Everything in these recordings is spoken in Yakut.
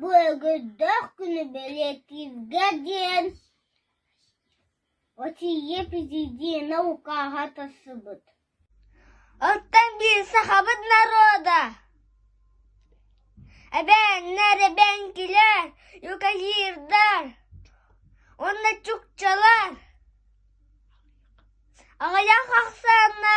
Былыргыттан күнү бэлиэтииргэ диэн Россия президенэ укааһа тахсыбыт Оттон биир сахабыт норуода эбээннэр, эбэҥкилэр, юкалирдар уонна чукчалар аҕыйах ахсаана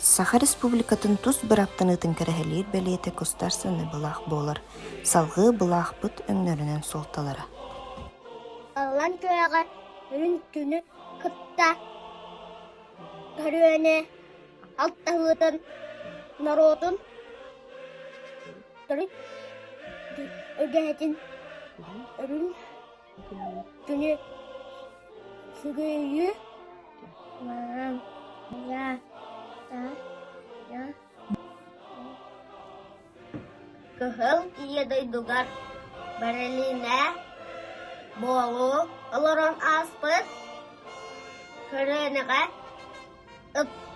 Саха Республикатын тус бырааптаныытын кэрэһэлиир бэлиэтэ кустарсыны былаах буолар. Салгыы былаахпыт өҥнөрүнэн суолталара. Аллан күрэҕэ үрүн күнү кытта көрүөнэ алтаһыытын норуотун төрүт үгэһитин өрүн Кини сүгүйүү маам я та я кыһыл ийэ дойдугар бэрилинэ буолуу олорон ааспыт көлүөнэҕэ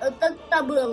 ытыктабыл